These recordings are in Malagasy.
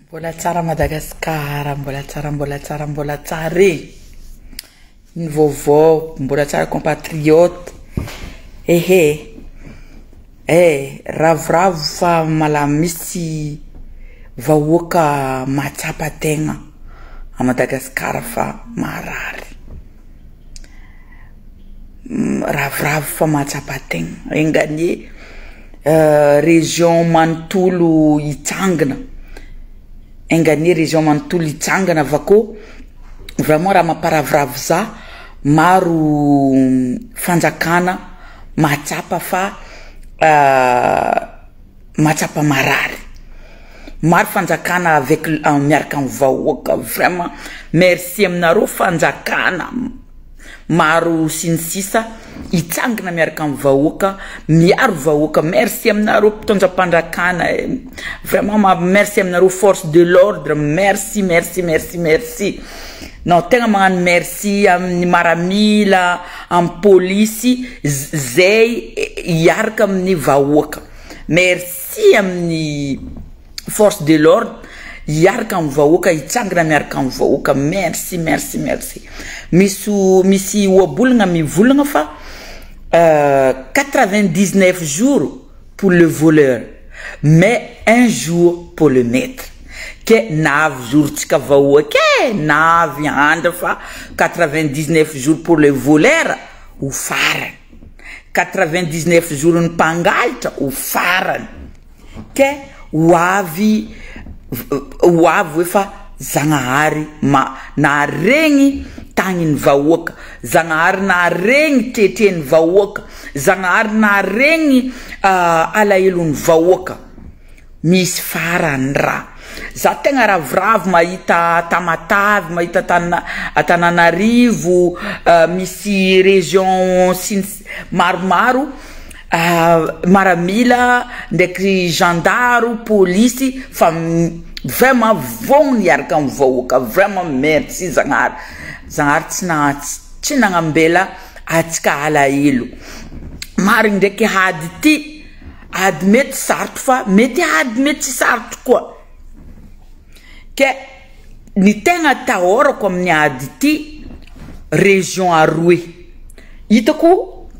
Mbola tsara Madagascar mbola tsara mbola tsara mbola tsara e ny vaovao mbola tsara compatriote ehe e ravoravo fa mala misy vahoaka mahatsapa tegna a Madagascar fa maharary. miravoravo fa mahatsapa tegna, enga anie région manontolo hitsangana, enga anie région manontolo hitsangana fa ko vraiment raha mamparavoravo za maro fanjakana mahatsapa fa. Mahatsapa marary. Maro fanjakana avec miaraka am vahoaka vraiment merci aminareo fanjakana maro sy ny sisa hitsangana miaraka am vahoaka miaro vahoaka merci aminareo mpitondra mpandrakana eh vraiment ma merci aminareo force de l'ordre merci merci merci merci nao tegna magnano merci aminy maramila am polisy zay hiaraka aminy vahoaka merci aminy force de l'ordre hiaraka aminy vahoaka hitsangana miaraka aminy vahoaka merci merci merci misy misy ohabolagna mivolagna fa quatre vingt dix neuf jours pour le voleur mais un jour pour le maitre. ke na avy jour tsika vahoaka e na avy andra fa quatre vingt dix neuf jour pour les voleurs ho farany quatre vingt dix neuf jour ny mpangalitra ho farany ke ho avy ho avy hoe fa zagnahary ma naharegny tagny ny vahoaka zagnahary naharegny tretre ny vahoaka zagnahary naharegny alahelo ny vahoaka Misy farany ra. Za tegna ravoravo mahita Tamatave, mahita Tana, Antananarivo, misy région sy ny si-, maromaro, maramila ndraiky zandaro, polisy fa vraiment vogno niaraka amin'ny vahoaka, vraiment merci Zagnahary, Zagnahary tsy naha-, tsy nagnambela antsika alahelo. Marigny ndraiky hady ty. Ady mety sarotra fa mety ady mety tsy sarotra koa. Ke ny tegna atahorako amin'ny ady ity région aroe hitako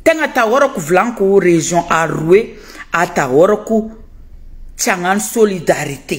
tegna atahorako volaniko région aroe atahorako tsy hagnano solidarité.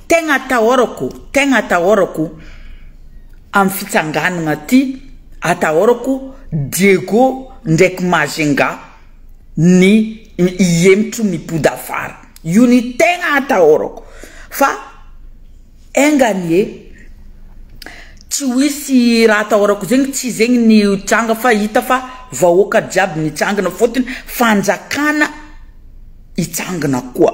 Tegna atahorako, tegna atahorako am fitsanganagna ty, atahorako Diego ndraiky Mazenga ny hihemitro ny podafara, io ny tegna atahorako fa enga anie tsy ho hisy raha atahorako zegny tsy zegny ny hitranga fa hita fa vahoaka jiaby nitsangana fôtony fanjakana hitsangana koa.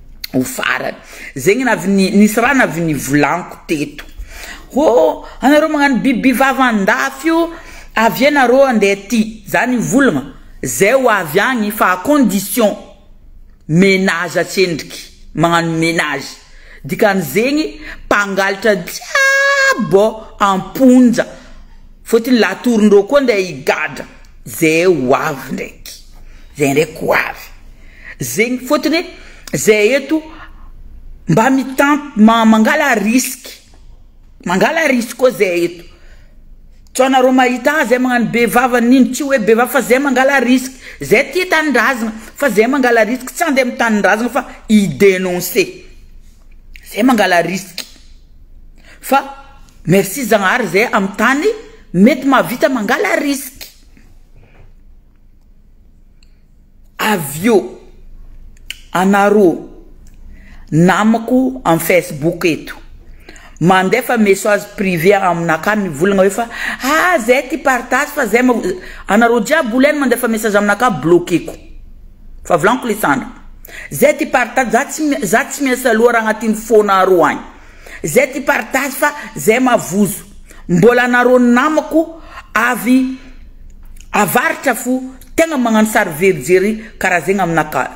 ho farany zegny ny avy ny nisy raha avy nivolaniko teto hô anareo magnano biby vava andafy io avy eo nareo andeha aty za nivolagna zay ho avy agny fa à condition menage atsendriky magnano menage dikan'izegny mpangalatra jiaby ô amponja fôtony latorondreo koa andeha higadra. Ze ho avy ndraiky. Ze ndraiky ho avy. Zegny fôtony hoe zahay eto mba mitam ma- mangala risque. Mangala risque koa zahay eto. Sao anareo mahita ah zahay magnano be vava nino, tsy hoe be vava fa zahay mangala risque. Zahay tia tanindrazagna fa zahay mangala risque tsy handeha am'tanindrazagna fa hi-denoncer. Zahay mangala risque. Fa merci Zagnahary zahay am'tany. Mety mahavita mangala risque. Avy eo, anarô namako am Facebook eto, mandefa mesoage privé aminakahy mivolagna hoe fa ah zay ty partage fa zay ma, anarô jiaby olona any mandefa message aminakahy bloqueko, fa volagniko le sandry, zay ty partage, za tsy, za tsy miasa loha raha agnatiny fôna arô agny. Zay ty partage fa zay mavozo. Mbola nareo namako avy avaritra fo tegna magnano sary very jery karaha zegny amina ka.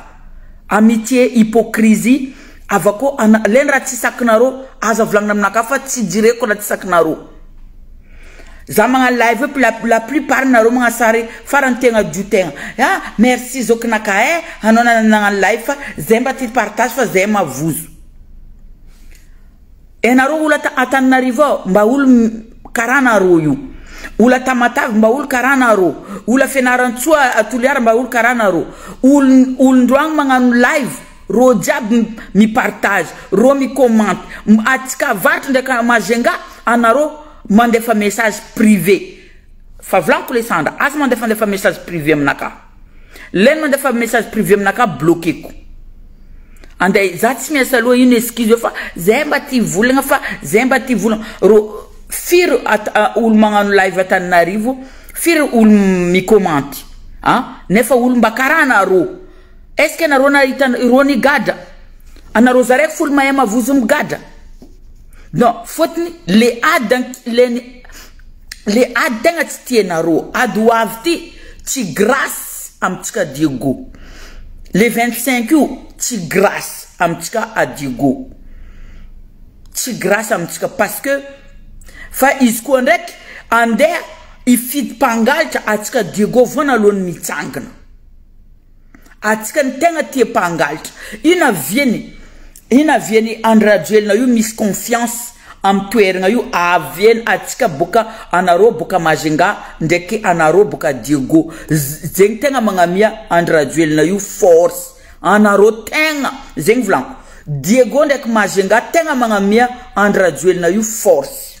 Amitié hypocrisie avakô ana lé ny raha tsy sakinareo aza volagnina aminakahy fa tsy jireko raha tsy sakinareo. Za magnano live io la la plus part nareo magnano sary farany tegna dio tegna. Ha merci zokinakahy eh anao nagnano live fa zay mba ty partage fa zay mavozo. Ianareo ola ta Antananarivo ao mba olo karana arô io, ola Tamatave mba olo karana arô, ola Fianarantsoa a Toliara mba olo karana arô, olo olondroagno magnano live rô jiaby mi partage, rô mi comment, atsika avarotro ndraiky a Majunga anarô mandefa message privé, fa volaniko le sandra aza mandefandefa message privé aminakahy. Lay manda fa message privé aminakahy bloqueko. Ande za tsy miasa loha ino excuse eo fa zay mba tia volagna fa zay mba tia volagna ro firy olo magnano live Antananarivo firy olo mi-comment a nefa olo mba kara anarô est-ce que anarô nahita irô nigadra anarô zaraiky folo mahay mavozo migadra. Non, fotony le ady ankilen'i le ady tegna tsy tianarô, ady ho avy ty tsy grace amintsika Diego, le vingt cinq io tsy grace amintsika a Diego, tsy grace amintsika parce que fa izy koa ndraiky andeha hifidy mpangalatra atsika Diego voana alohan'ny mitsangana. Atsika no tegna tia mpangalitra. Ino aviany ino aviany Andry Rajoelina io misy confiance am toeragna io aviany atsika boka anarô boka Majunga ndraiky anarô boka Diego zegny tegna magnamia Andry Rajoelina io force anarô tegna zegny volagno Diego ndraiky Majunga tegna magnamia Andry Rajoelina io force.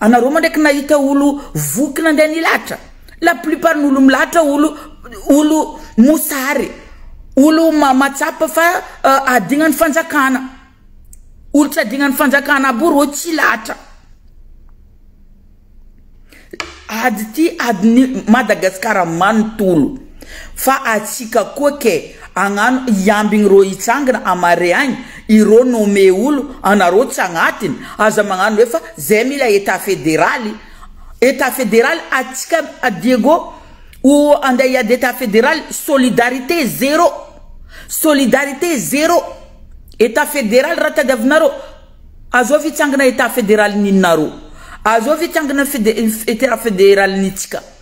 Anareo moa ndraiky nahita olo voky nandeha nilahatra? La plupart ny olo milahatra olo olo mosary, olo mahatsapa fa adignan'ny fanjakana, olo tsy adignan'ny fanjakana aby io rô tsy lahatra. Ady ty adin'i Madagasikara manontolo. Fa atsika koa ke agnano iambigny ro hitsangana amareagny irô nomme olo anarô tsy agnatiny aza magnano hoe fa zay mila etat federaly etat federaly atsika Diego o andeha hiady etat federaly solidarité zero solidarité zero etat federaly raha tadiavinarô azao fitsangana etat federaly ninarô azao fitsangana fede etat federaly nitsika.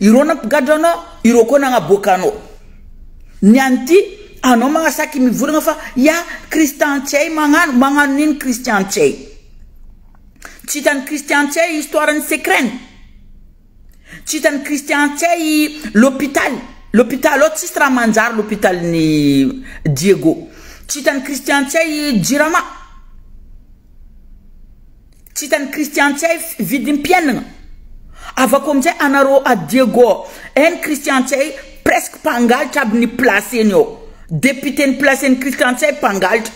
Ireo nampigadra anao, ireo koa nagnaboaka anao. Ny any ty, anao magnasaky mivorogna fa ya Christian tsy hay magnano, magnano nino Christian tsy hay. Tsy hitan'i Christian tsy hay histoire ny secret-ny. Tsy hitan'i Christian tsy hay l'hôpital, l'hôpital ao tsisy raha manjary l'hôpital-n'i Diego. Tsy hitan'i Christian tsy hay jirama. Tsy hitan'ny Christian tsy hay vidim-piainagna. Avako amin'izay anareo à Diego any Christian tsy hay presque mpangalatra aby ny place-ny ao. Député ny place-ny Christian tsy hay mpangalatra.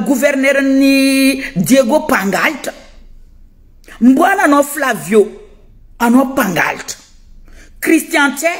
Gouverneur-n'ny Diego mpangalatra. Mboana anao Flavio anao mpangalatra. Christian tsy hay.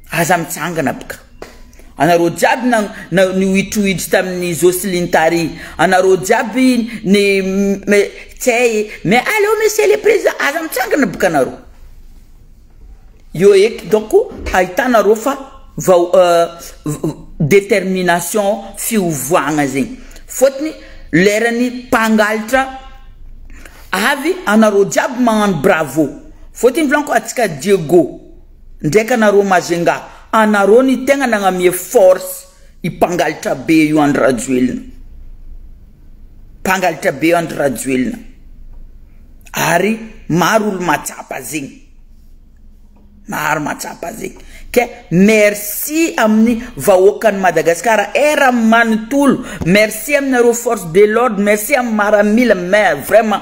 Aza mitsangana bka anareo jiaby na na nihoitrohitry tamin'ny Jocelyne tary anareo jiaby ny me tsay e mais aleo monsieur le président aza mitsangana bka anareo eo eky donc ahitanareo fa vao détermination fiovoagna zegny fôtony leran'ny mpangalatra avy anareo jiaby magnano bravo fôtony volagno koa antsika Diego. Ndraika nareo Majunga anareo ny tegna nagnamie force i mpangalitra be io Andry Rajoelina mpangalitra be Andry Rajoelina ary maro olo matsapa zegny maro matsapa zegny ke merci aminy vahoakan'i Madagascar er aminy manotolo merci aminareo force de l'ordre merci aminy maramila mais vraiment